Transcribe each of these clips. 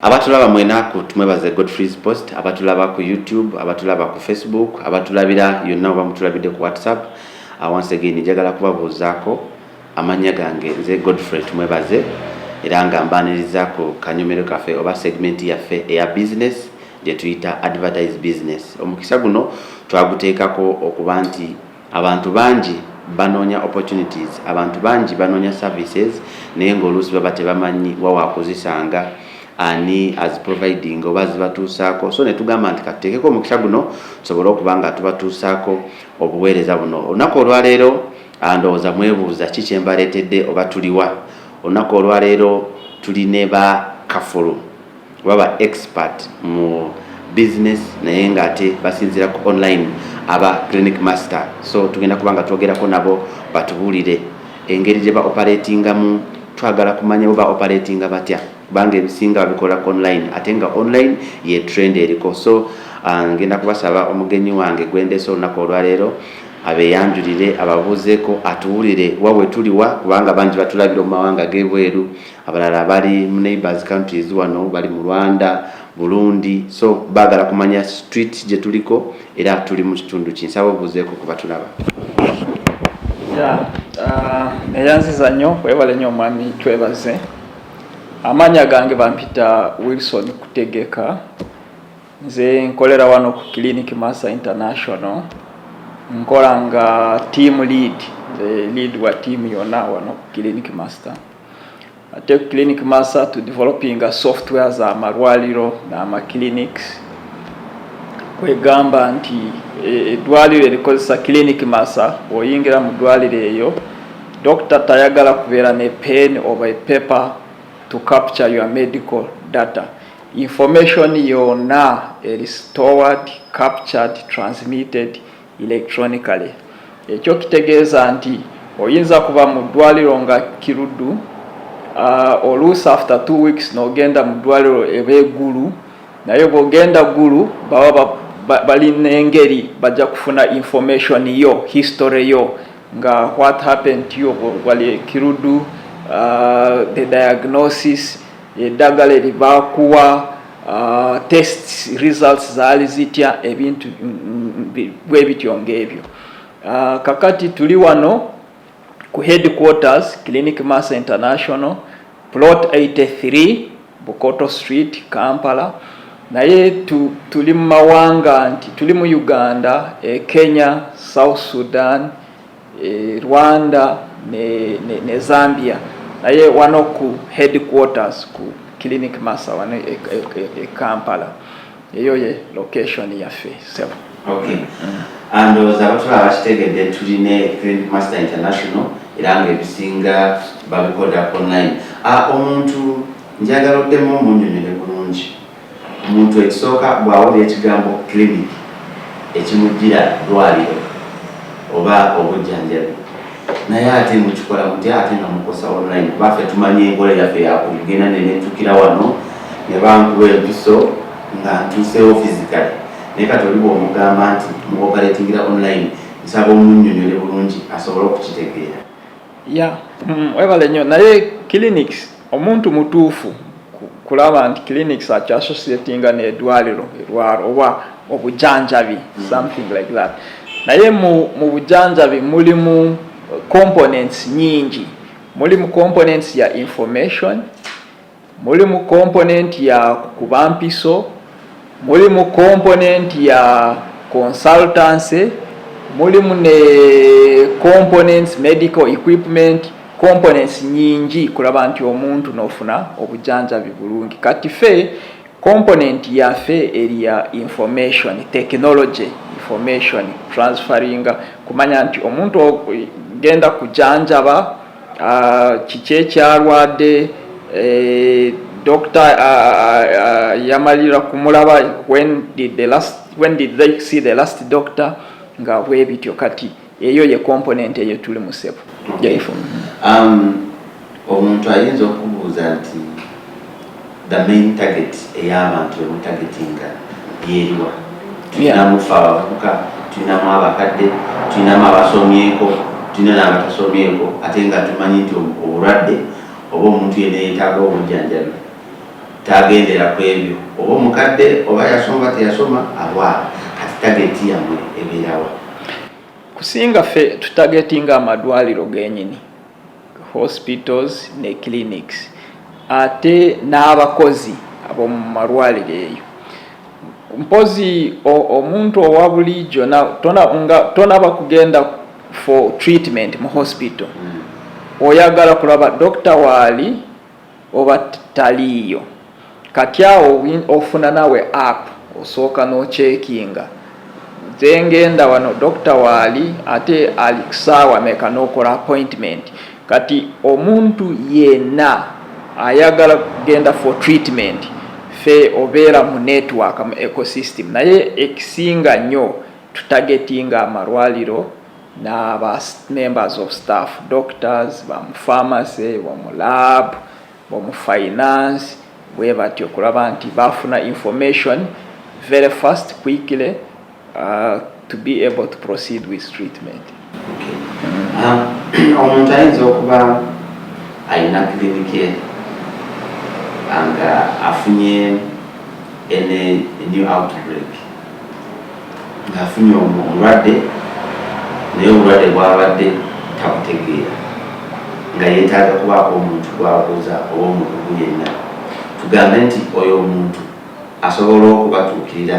Abatulaba mwena ku tumwebaze Godfrey's Post, abatulaba ku YouTube, abatulaba ku Facebook, abatulabira yonna oba mutulabidde ku WhatsApp, uh, once again njagala kubabuuzaako amannya gange nze Godfrey Tumwebaze era nga mbaniriza ku kanyomero kaffe oba segment yaffe eya business gye tuyita advertise business. Omukisa guno twaguteekako okuba nti Abantu bangi banoonya opportunities, abantu bangi banoonya services naye nga oluusi baba tebamanyi wa wakuzisanga, ani as providing oba azibatuusaako so netugamba nti katuteekeko omukisa guno tusobole okuba nga tubatuusaako obuweereza buno olunaku olwaleero ah, ndowooza mwebuuza ki kyembaleetedde oba tuliwa olunaku olwaleero tuli ne ba kafulu Oba ba expert mu business naye nga ate basinzira ku online aba clinic master so tugenda kuba nga twogerako nabo batubuulire engeri gye ba operatingamu twagala kumanya bo ba operatinga batya kubanga ebisinga babikola ku online ate nga online ye trend eriko so uh, ngenda kubasaba omugenyi wange gwendese olunaku olwaleero abeyanjulire ababuuzeeko atuwulire wa wetuliwa kubanga bangi batulabira mu mawanga g'ebweru abalala bali mu neighbors countries wano bali mu rwanda burundi so bagala kumanya street gyetuliko era tuli mu kitundu kinsaba obuzeeko kuba tulaba uh, eyanziza nnyo webale nnyo omwami twebaze amaanya gange bampita wilson kutegeka nze nkolera wano ku clinic massa international nkola nga team lead the lead wa team yona wano clinic master ate ku clinic masa to developing a software za malwaliro n'amaclinics kwegamba nti e, eddwaliro erikozesa clinic masa oyingira mu ddwaliro eyo dokita tayagala kubeera ne pen oba epaper to capture your medical data information yonna eri stored captured transmitted electronically ekyo kitegeeza nti oyinza kuba mu ddwaliro nga kiruddu uh, oluusi after two weeks nogenda mu ddwaliro eba egulu naye bwogenda gulu baba balina engeri bajja kufuna information yo history yo nga what happened to you wali kiruddu uh, the diagnosis eddagala eribakuwa uh, test results zaali zitya ebintu bwe bityo ng'ebyo uh, kakati tuli wano ku headquarters clinic mass international plot 83 bukoto street kampala naye tu, tuli mu mawanga nti tuli mu uganda e kenya south sudan e Rwanda ne, ne, ne Zambia naye wano ku headquarters ku clinic masa wano e, e, e, e Kampala eyo ye location yaffe sebo okay. mm. andowooza abatula abakitegedde tulina clinic master international era nga ebisinga babikoda online ah, omuntu njagala oddemu omunyonyole bulungi Omuntu ekisooka bw'awulira ekigambo clinic ekimujjira ddwaaliro oba obujjanjabi naye ate mukikola mutya ate nga mukosa online kuba ffe tumanyi enkola yaffe yakugenda nenentukira wano ne bankuba empiso nga ntuuseewo physically naye kati oli bw'omugamba nti mu operatingira online nsaba omunnyonnyole bulungi asobole okukitegeera ya hmm, webale nnyo naye clinics Omuntu mutuufu kulaba nti clinics akya associatinga n'edwaliro erwaro oba obujanjabi mm. something like that naye mu, mu bujanjabi mulimu components nyingi mulimu components ya information mulimu component ya kuba mpiso Mulimu komponenti ya consultancy, mulimu ne components medical equipment components nyingi kulaba nti omuntu nofuna obujanjabi bulungi kati fe component yafe eriya information technology information transferring kumanya nti omuntu genda kujanjaba kiki ekyalwadde eh, dokita yamalira kumulaba when did the last when did they see the last doctor nga bwebityo kati eyo ye component eyo tuli mu sebo um, omuntu ayinza okubuuza nti the main target eyabantu emu targetinga yeriwa tulinamu fe abavubuka tulinamu abakadde tulinamu abasomyeko tulina nabatasomyeko ate nga tumanyi nti obulwadde oba omuntu yena yetaaga obujjanjabi tagendera ku ebyo oba omukadde oba yasoma teyasoma awa kati tageti yamwe ebeerawa kusinga fe tutagetinga amadwaliro genyini hospitals ne clinics ate n'abakozi ab'omu malwaliro eyo mpozi omuntu owa bulijjo tonaba kugenda for treatment mu hospital mm. oyagala kulaba dokita waali oba taliiyo kati awo ofuna nawe app osooka nokyekinga nze ngenda wano dokita waali ate ali kusaawa meka nokola appointment kati omuntu yena ayagala kugenda for treatment fe obeera mu network mu ecosystem naye ekisinga nyo tutagetinga amalwaliro n'aba members of staff doctors ba mu pharmacy bomu lab bomu finance bwe bati okulaba nti bafuna information very fast quickly uh, to be able to proceed with treatment ah, omuntu ayinza okuba alina kirinike nga afunye ene new outbreak ng'afunye obulwadde naye obulwadde bwabadde tabutegeera nga yeetaaga kubaako omuntu gwabuuza oba omukugu yenna tugambe nti oyo omuntu asobola okubatuukirira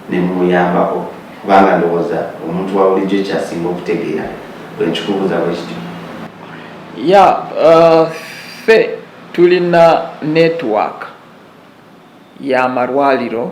ne mumuyambako kubanga ndowooza omuntu wa bulijjo kyasinga okutegeera bwe nkikubuuza bwe kityo ya uh, ffe tulina network y'amalwaliro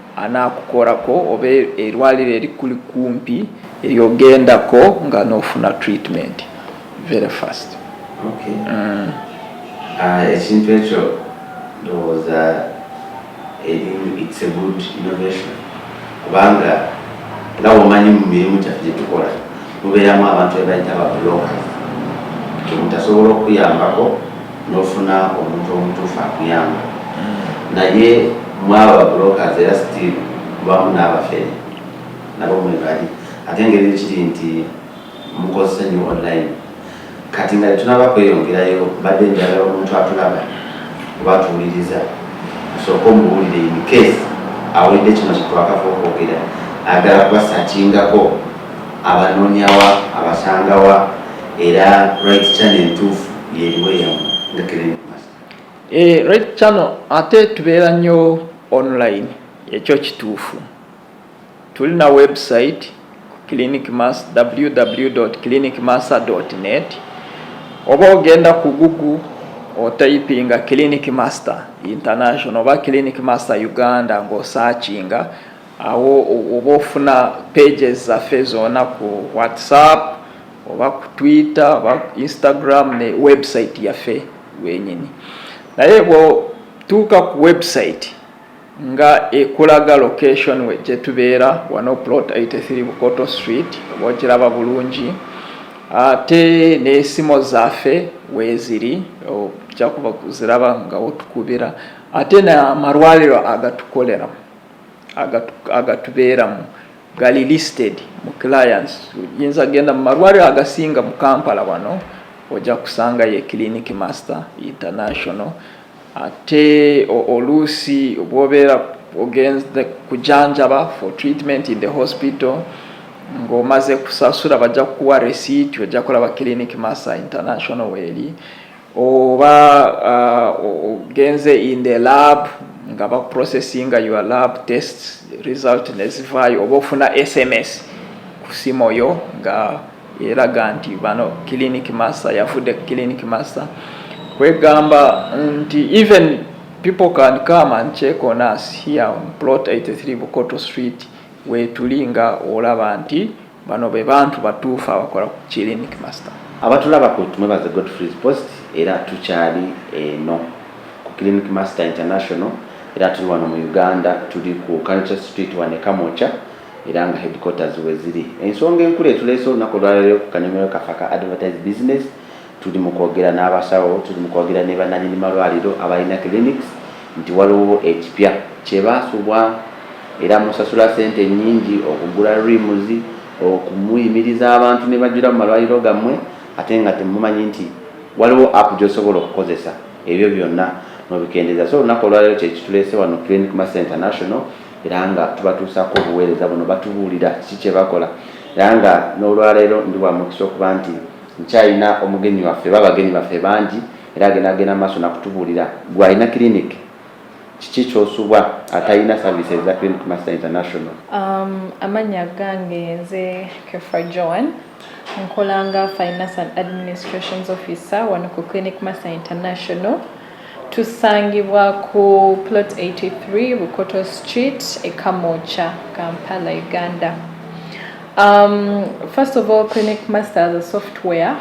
anakukorako oba erwaliro erikuli kumpi eryogendako nga nofuna treatment very fast okay. mm. uh, ekintu ekyo ndowooza erimu its a good innovation kubanga nga womanyi mu mirimu kyaffe gyetukola mubeeramu abantu ebayita babuloka kemutasobola okuyambako nofuna omuntu omutuufu akuyamba hmm. naye mwaba brokers era still mubamu n'abafere nabo mwebali ate ngeri kiri nti mukozesa nyo online kati nga tunaba kweyongerayo mbadde njagala omuntu atulaba oba atuwuliriza osooka omuwulire in case awulidde kino kyetwakava okwogera agala kubasakingako abanonyawa abasangawa era right channel entuufu yeriwe yamu nga kireni eh, right channel ate tubeera nnyo online ekyo kituufu tulina website clinic mass www clinic massa net oba ogenda ku google otayipinga clinic master international oba clinic master uganda ng'osaakinga awo oba ofuna pages zaffe zona ku whatsapp oba ku twitter oba instagram ne website yaffe wenyini naye bwotuuka ku website nga ekulaga location we gyetubeera wano plot 83 bukoto street oba okiraba bulungi ate n'esimo zaffe weeziri okyakuba kuziraba nga otukubira ate n'amalwaliro agatukoleramu agatubeeramu gali listed mu clients yinza genda mu malwaliro agasinga mu kampala wano ojja kusangayo e clinic master international ate oluusi bwobeera ogenze kujanjaba for treatment in the hospital ng'omaze kusasula bajja kukuwa receipt ojja kulaba clinic master international weeri oba uh, ogenze uh, in the lab nga ba processinga your lab test result nezivaayo oba ofuna sms ku simu yo nga eraga nti bano clinic master yafudde clinic master kwegamba nti even people can come and check on us here on plot 83 bukoto street wetuli nga olaba nti Bano be bantu batuufu abakola ku Clinic Master. Abatulaba ku Tumwebaze Godfrey's Post era tukyali eno ku Clinic Master International era tuli wano mu Uganda tuli ku Culture Street wano e Kamwokya era nga headquarters we ziri. Ensonga enkulu etuleese olunaku olwaleero ku kanyomero kaffe aka Advertise Business tuli mu kwogera n'abasawo tuli mu kwogera ne bannanyini malwaliro abalina clinics nti waliwo ekipya kye baasubwa era musasula ssente nnyingi okugula rims okumuyimiriza abantu ne bajjula mu malwaliro gammwe ate nga temumanyi nti waliwo app gy'osobola okukozesa ebyo byonna nobikendeeza so olunaku olwaliro kyekituleese wano clinic master international era nga tubatuusaako obuweereza buno batubuulira kiki kye bakola era nga n'olwaleero ndi bwa mukisa okuba nti Nkyalina omugenyi waffe ba bagenyi baffe bangi era agenda agenda maaso nakutubuulira gwe alina clinic kiki kyosubwa atalina services za clinic master international um, amanya gange nze kefa joan nkolanga finance and administrations officer wano ku clinic master international Tusangibwa ku plot 83 Bukoto Street e Kamwokya, Kampala, Uganda. Um, first of all, Clinic Masters a software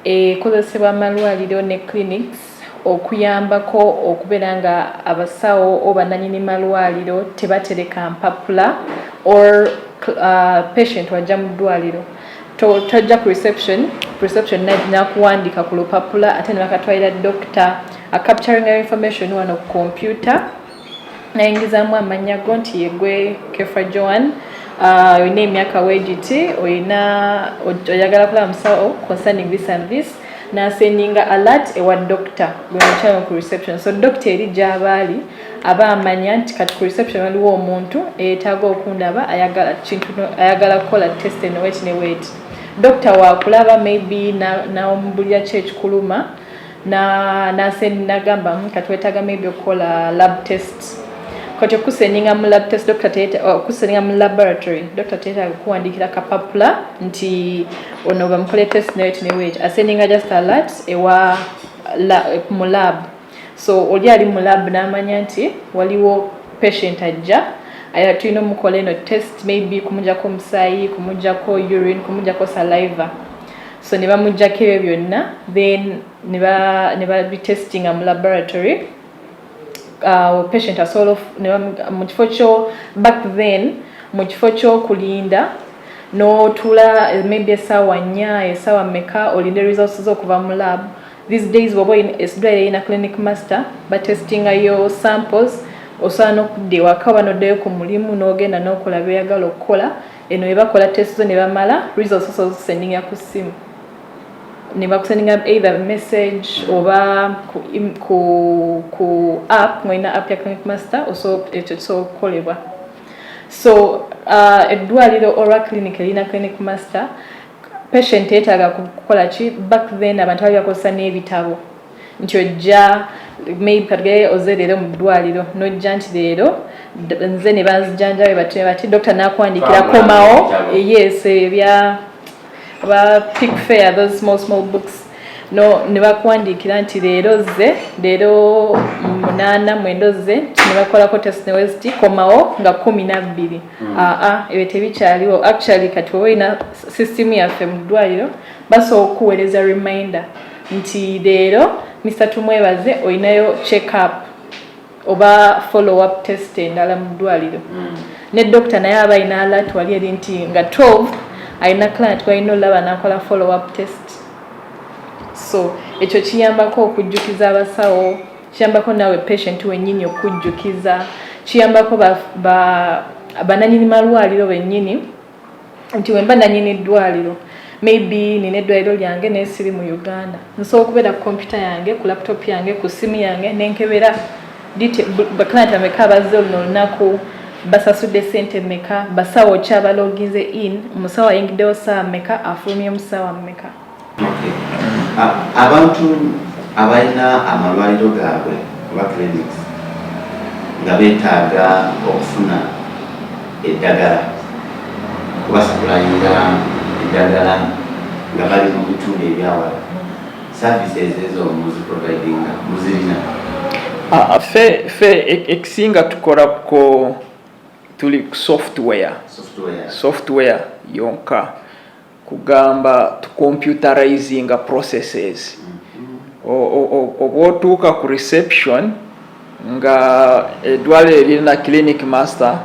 ekozesebwa amalwaliro ne clinics okuyambako okubeera nga abasawo oba nanyini malwaliro tebatereka mpapula or uh, patient wajja mu ddwaliro to tojja ku reception reception nakuwandika ku lupapula ate nebakatwalira doctor a capturing your information wano ku computer nayingizamu amanya go nti yegwe kefa joan uh, olina uh, emyaka wegiti olina oyagala kulaba musawo concerning this and this nasendinga alert ewa doctor gwenakyano ku reception so doctor eri gyabaali aba amanya nti kati ku reception waliwo omuntu eyetaaga okundaba ayagala kintu ayagala kukola test eno weti ne weti dokita wakulaba maybe nawomubulira na ki ekikuluma nasenagamba na hmm, kati wetaaga maybe okukola lab test kati okukuseninga mu lab test dokita teyeta oh, okukuseninga mu laboratory dokita teyeta kukuwandikira kapapula nti ono bamukole test ne weti ne weti aseninga just alert ewa la, mu lab so oli ali mu lab n'amanya nti waliwo patient ajja aya tulina omukola eno test maybe kumujako omusaayi kumujako urine kumujako saliva so ne bamujjako ebyo byonna then ne babitestinga mu laboratory uh, patient asobola mu kifo kyo back then mu kifo kyokulinda n'otuula maybe esaawa nnya esaawa meka olinde results z'okuva mu lab These days bwoba eddwaliro erina clinic master batestinga yo samples osobola n'okudda ewaka oba n'oddayo ku mulimu n'ogenda n'okola byoyagala okukola eno webakola test zo ne bamala results osobola ozisendinga ku ssimu ne bakusendinga either message oba ku, ku, ku app ngolina app ya clinic master osobola ekyo kisobola okukolebwa so uh, eddwaliro olwa clinic erina clinic master patient yetaaga kukola ki back then abantu bali bakozesa n'ebitabo nti ojja maybe katugere oze leero mu ddwaliro n'ojja nti leero nze ne banzijanjawe bati bati dokita n'akuwandiikira komawo yes ebya ba pick fair those small small books no ne bakuwandiikira nti leero zze leero munaana mwendo zze ne bakolako test neweziti komawo nga kumi nabbiri hmm. aa ah, ah, ebyo tebikyaliwo actually kati oba olina system yaffe mu ddwaliro basobola okukuweereza reminder nti leero mr tumwebaze olinayo check up oba follow up test endala mu ddwaliro hmm. ne dokita naye aba alina alat wali eri nti nga 12 alina client gwalina olaba nakola follow up test so ekyo kiyambako okujjukiza abasawo kiyambako nawe patient wenyini okujjukiza kiyambako ba, ba bananyini malwaliro benyini nti wemba nanyini ddwaliro maybe nina eddwaliro lyange naye siri mu uganda nsobola okubeera ku kompyuta yange ku laptop yange ku simu yange nenkebera baclient ameka abazze oluno olunaku basasudde sente meka basawo ki abaloginze in omusawo ayingiddewo saawa meka afulumyemu saawa meka abantu abalina amalwaliro gaabwe oba clinics nga betaaga okufuna eddagala kubasikulayira eddagala nga bali mu bitundu ebyawala services ezo muziprovidinga muzirina ah, fe fe e-, ekisinga tukola ko tuli software software, software yonka kugamba to computerizing processes oba otuuka ku reception nga edwaliro eririna clinic master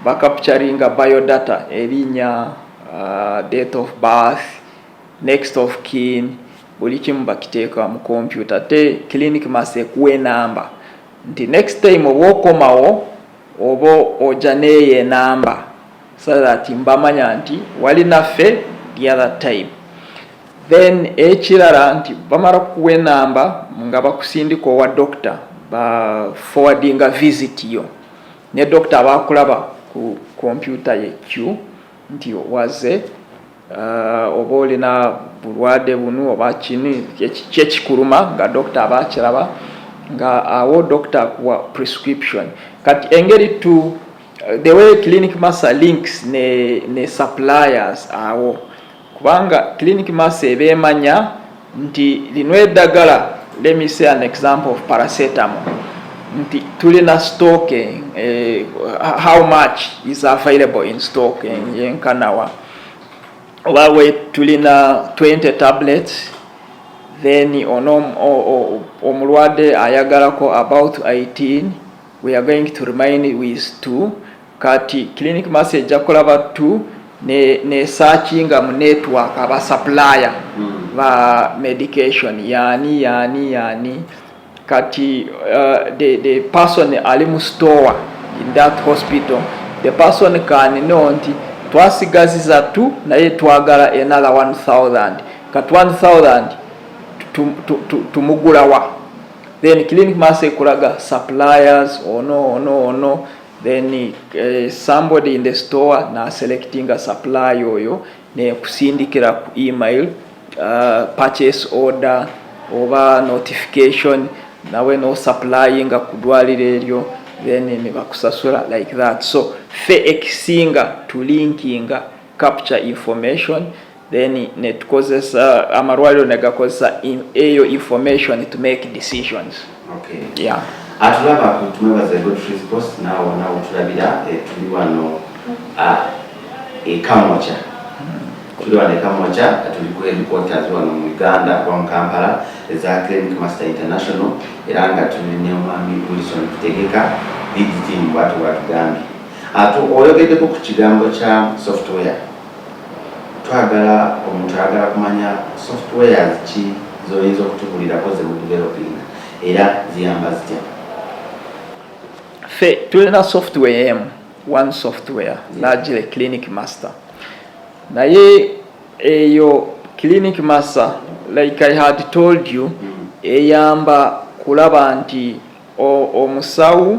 bacapturinga biodata erinya uh, date of birth next of kin buli kimu bakiteeka mu kompyuta te clinic master ekuwa enamba nti next time oba okomawo oba oja neeyo enamba so that mbamanya nti wali naffe the other time then ekirala nti bamala kukuwa enamba nga bakusindika owa dokita ba forwardinga visit yo ne dokita abakulaba ku kompyuta ye q nti waze Uh, oba olina bulwade bunu oba kini kyekikuluma nga dokita aba akiraba nga awo dokita akuwa prescription kati engeri tu uh, the way clinic master links ne, ne suppliers awo kubanga clinic master eba emanya nti lino eddagala let me say an example of paracetamol nti tulina stock eh, how much is available in stock eh, yenkanawa oba we tulina 20 tablets then ono omulwadde ayagalako about 18 we are going to remain with two kati clinic mass ejja kukola battu nesakinga ne mu network aba supplier mm. ba medication yani yani yani kati uh, the, the person ali mu store in that hospital the person can know nti twasigaziza tu naye twagala another 1000 kat 1000 tumugulawa then clinic mass ekulaga suppliers ono ono ono then uh, somebody in the store na selecting a supply oyo ne kusindikira ku email uh, purchase order oba notification nawe no supplying ku dwaliro eryo then ne bakusasula like that so fe ekisinga tulinkinga capture information then netukozesa amalwaliro negakozesa eyo information to make decisions okay. yeah. atulaba kutuwebaza godfreys post nawo nawo tulabira eh, tuli wano ah, ekamokya hmm. tuli wano ekamokya tuli ku headquarters wano mu uganda kuba mu kampala eza clinic master international era nga tuli ne omwami wilson kutegeka digitimu bwatu bwatugambye ate oyogeddeko ku kigambo kya software twagala omuntu ayagala kumanya software ki zoyinza okutubulirako zemudevelopinga era ziyamba zitya fe tulina software emu one software lagile clinic master naye eyo clinic master like i had told you mm. eyamba kulaba nti omusawo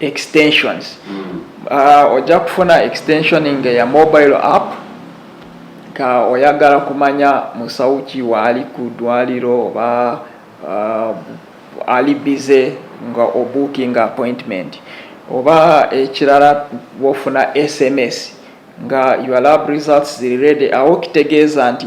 extensions mm. uh, ojja kufuna extensioning ya mobile app ka oyagala kumanya musawo ki waali ku ddwaliro oba uh, ali bize nga obooking appointment oba ekirala wofuna sms nga your lab results ziri redi awo kitegeeza nti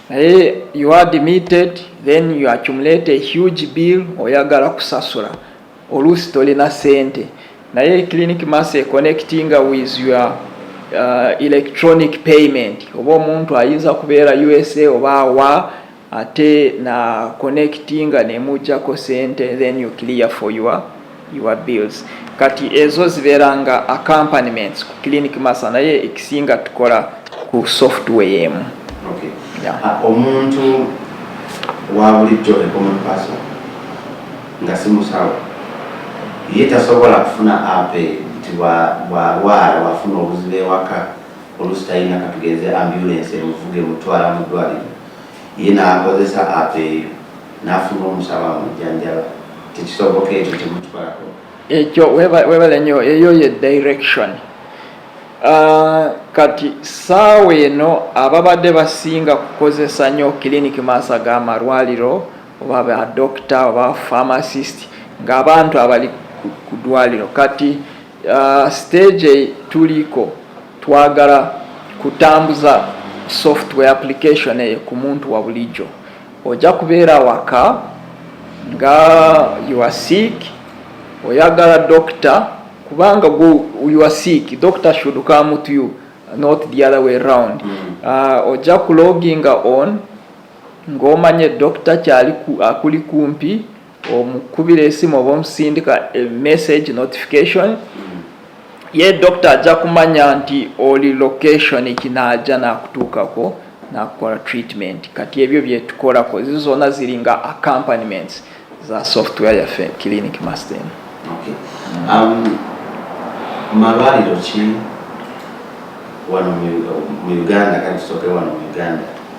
naye you are admitted then you accumulate a huge bill oyagala kusasula oluusi tolina sente naye clinic mass econnectinga with your uh, electronic payment oba omuntu ayinza kubeera usa oba awa ate na connectinga nemujjako sente then you clear for your your bills kati ezo zibeera nga accompaniments ku clinic masa naye ekisinga tukola ku software emu okay. yeah. uh, omuntu wabulijjo ekomupaso nga simusawo ye tasobola kufuna ape nti bwalwala wafuna obuzibu ewaka olusi talina katugenze ambulance emuvuga emutwala mu ddwaliro ye nakozesa ape eyo nafuna omusawo amujjanjaba tekisoboka ekyo temutwako ekyo webale nyo eyo ye direction uh, kati saawa eno ababadde basinga kukozesa nyo clinic maasa ga malwaliro oba ba doctor oba pharmacist ng'abantu abali ku dwaliro kati uh, stage tuliko twagala kutambuza software application eyo ku muntu wa bulijjo ojja kubeera waka nga you are sick oyagala dokita kubanga you are sick dokita should come to you not the other way round mm. uh, ojja kuloginga on ng'omanye dokita kyali akuli kumpi omukubira esimu oba omusindika e message notification mm. ye dokita ajja kumanya nti oli location kinaaja nakutuukako nakukola treatment kati ebyo byetukolako zi zona ziri nga accompaniments za software yaffe clinic master okay. um, malwaliro ki wano mu uganda kati tusoke wano mu uganda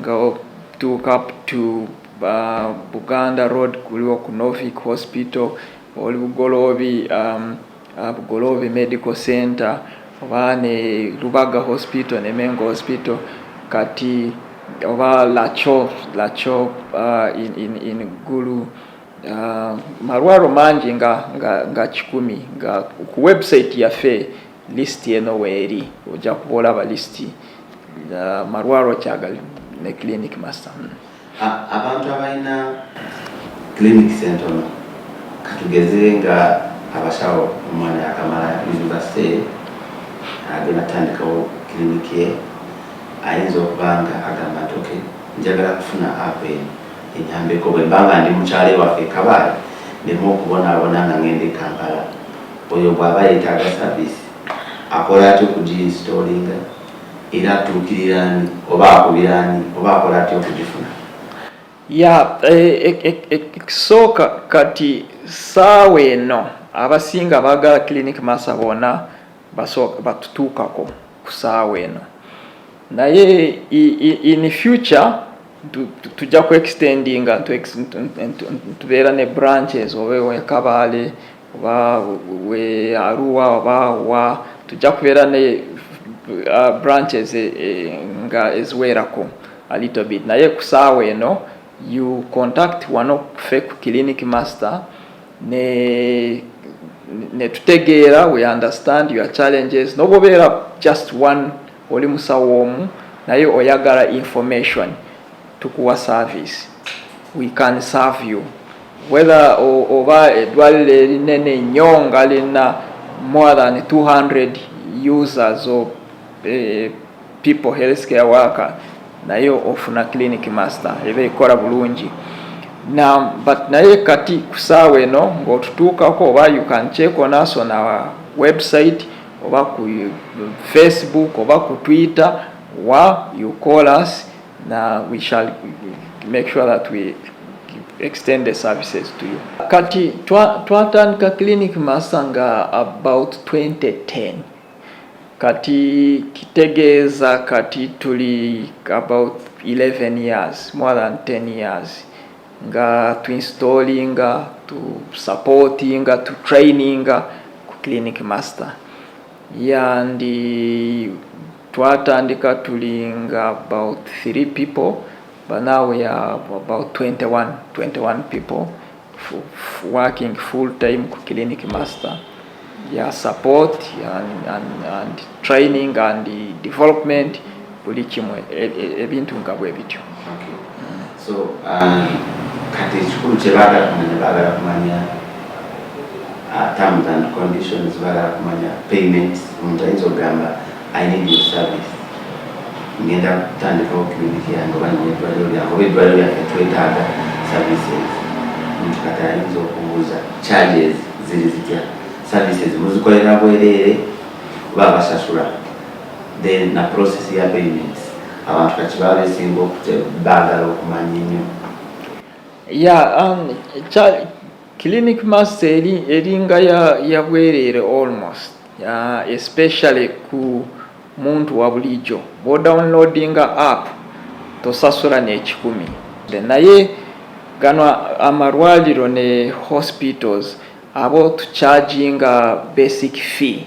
nga otuuka up to uh, buganda road kuliwo ku norvic hospital oli bugoloobi um, uh, bugoloobi medical center oba ne lubaga hospital ne mengo hospital kati oba lacho lacho uh, in, in, in gulu uh, malwaro mangi nga, nga, nga kikumi nga ku website yaffe List eno weeri ojja kuba olaba list uh, malwalwa kyagali ne clinic master hmm. abantu abalina clinic sentono katugeze nga abasawo omwana yakamala university agenda tandikawo clinic ye ayinza okuba nga agamba nti ok njagala kufuna app eno enyambeko bwembanga ndi mukyalo ewaffe kabaale nemu okubonabona nga ngenda ekampala Oyo bw'aba yeetaaga saviisi akola atya okugiyinsitoolinga era atuukirira ani oba akubira ani oba akola atya okugifuna? Ya ekisooka e, e, e, kati ssaawa eno abasinga baagala clinic masa bona basooka batutuukako ku ssaawa eno naye in future tujja ku extendinga tubeera ne branches oba ewekabaale oba we aruwa oba wa tujja kubeera ne uh, branches eh, eh, nga eziweerako a little bit naye kusaawa eno you contact wano kufe ku clinic master ne netutegeera we understand your challenges nobobeera just one oli musawo omu naye oyagala information tukuwa service we can serve you whether oba edwaliro erinene nyo nga lina more than 200 users of eh, people health care worker naye ofuna clinic master eba ekola bulungi na but naye kati kusaawa eno ngaotutuukako oba you can check on us on our website oba ku facebook oba ku twitter wa you call us na we shall make sure that we extend the services to you. Kati twatandika twa clinic masa nga about 2010 kati kitegeeza kati tuli about 11 years more than 10 years nga tu installinga tu supportinga tu traininga ku clinic master Yandi twatandika tuli nga about three people but now we are about 21, 21 people working full time ku clinic master ya support and, and, and training and development buli kimwe e, e, ebintu nga bwe bityo okay. so um, kati ekikulu kyebaagala kumanya baagala kumanya uh, terms and conditions baagala kumanya payment omuntu ayinza okugamba i need your service ngenda kutandikawo clinic yange oba nina eddwaliro lyange oba eddwaliro lyange twetaaga services omuntu kati ayinza okubuuza charges ziri zitya services muzikolera bwereere oba abasasula then na process ya payments abantu kati babesinga baagala okumanya ennyo ya um, clinic master eri eringa yabwereere almost uh, especially ku muntu wa bulijjo bwodownloadinga app tosasula n'ekikumi naye gano amalwaliro ne hospitals abo tucharginga basic fee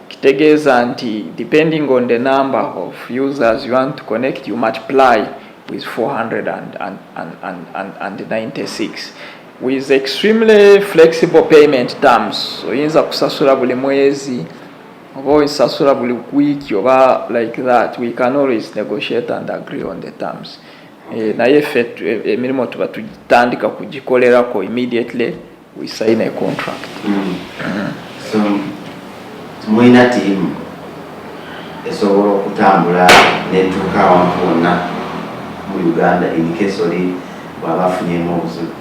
Kitegeeza nti depending on the number of users you want to connect you multiply with 496 with extremely flexible payment terms oyinza kusasula buli mwezi oba osasula buli wiiki oba like that we can always negotiate and agree on the terms eh, naye ffe eh, emirimu tuba tutandika kugikolerako immediately we sign a contract mm. Mm. so mulina tiimu esobola okutambula netuuka awantu wonna mu uganda incase oli bwaba afunyemu obuzibu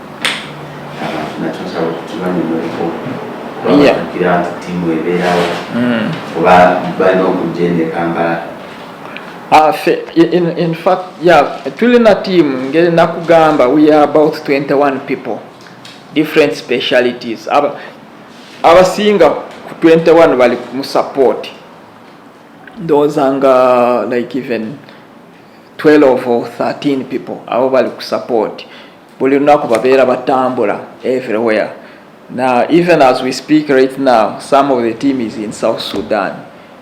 natusobola okutubanyumuleko babatukira nti tiimu ebeerawo mm. oba balina okujja ene kampala Uh, in, in fact, yeah, tulina team ngeri nakugamba we are about 21 people different specialities aba abasinga ku 21 bali mu support ndowooza nga like even 12 or 13 people abo bali ku support buli lunaku babeera batambula everywhere now even as we speak right now some of the team is in south sudan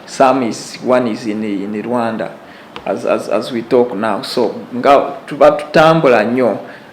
some is one is in, in rwanda as, as, as we talk now so nga tuba tutambula nnyo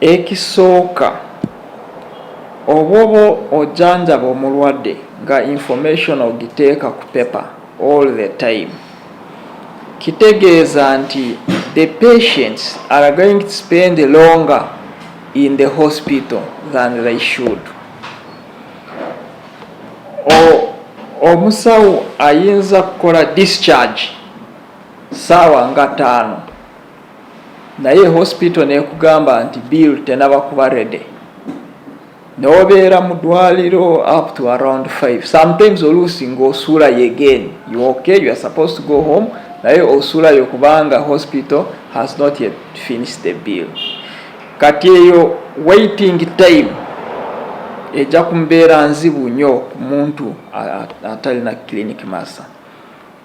Ekisooka obwoba ojanjaba omulwade nga information ogiteeka ku paper all the time kitegeeza nti the patients are going to spend longer in the hospital than they should omusawo ayinza kukola discharge saawa nga taano naye hospital nekugamba nti bill tenaba kuba rede nobeera mu dwaliro up to around 5 sometimes oluusi ngaosuula yegen you okay you are supposed to go home naye osuulayo kubanga hospital has not yet finished the bill kati eyo waiting time ejja kumbeera nzibu nyo ku muntu atalina clinic masa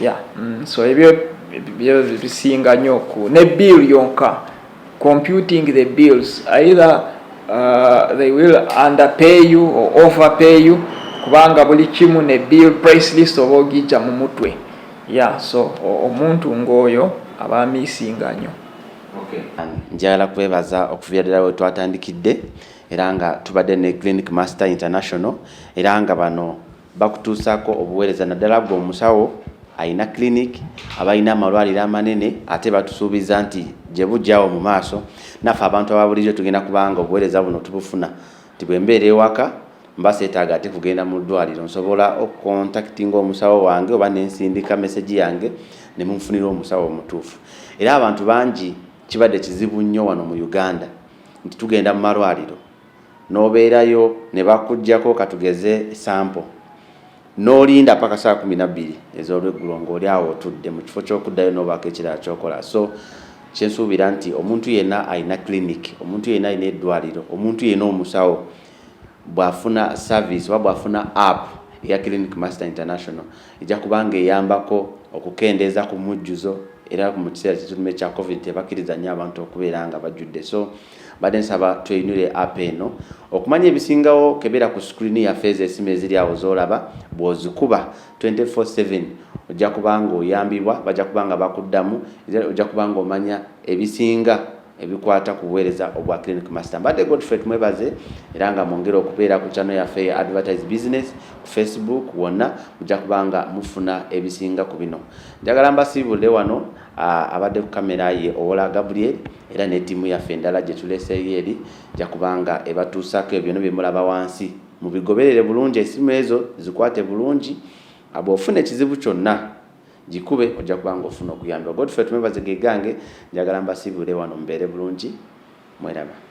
yeah. mm. so ebyo ebyo bisinga nnyo ku ne bill yonka computing the bills either uh, they will underpay you or overpay you kubanga buli kimu ne bill price list oba ogijja mu mutwe yeah so omuntu ng'oyo aba misinga nnyo okay. njagala kwebaza okuviradira we twatandikidde era nga tubadde ne clinic master international era nga bano bakutuusaako obuweereza naddala gwe omusawo alina clinic abalina amalwaliro amanene ate batusuubiza nti gye bujjawo mu maaso naffe abantu ababulijjo tugenda kubanga obuweereza buno tubufuna nti bwe mbeera ewaka mba seetaaga ate kugenda mu ddwaliro nsobola okukontakitinga omusawo wange oba nensindika mesegi yange ne munfunira omusawo omutuufu era abantu bangi kibadde kizibu nnyo wano mu uganda nti tugenda mu malwaliro n'obeerayo ne bakuggyako katugeze sampo n'olinda paka saa kumi na bbiri ez'olweggulo ng'oli awo otudde mu kifo ky'okuddayo n'obaako ekirala kyokola so kyensuubira nti omuntu yenna alina clinic omuntu yenna alina eddwaliro omuntu yenna omusawo bw'afuna service oba bw'afuna app eya clinic master international ejja kuba nga eyambako okukendeeza ku mujjuzo era mu kiseera kyetulimu ekya covid tebakkiriza nnyo abantu okubeera nga bajjudde so mbadde nsaba tweyinire app eno okumanya ebisingawo kebera ku screen ya feza esimu eziri awo zolaba bwozikuba 24/7 ojja kubanga oyambibwa bajja kubanga bakuddamu ojja kubanga omanya ebisinga ebikwata ku buweereza obwa clinic master mbadde godfrey tumwebaze era nga mwongere okubeera ku channel yaffe ya advertise business ku facebook wonna mujja kubanga mufuna ebisinga ku bino njagala mbasiibulire wano abadde ku kamera ye owola gabriel era ne tiimu yaffe endala gye tuleseeyo eri ja kuba nga ebatuusaako ebyo byonna bye mulaba wansi. Mubigoberere bulungi essimu ezo zikwate bulungi, bw'ofuna ekizibu kyonna gikube ojja kuba nga ofuna okuyambibwa. Godfrey Tumwebaze ge gange, njagala mbasiibule wano mubeere bulungi. Mweraba.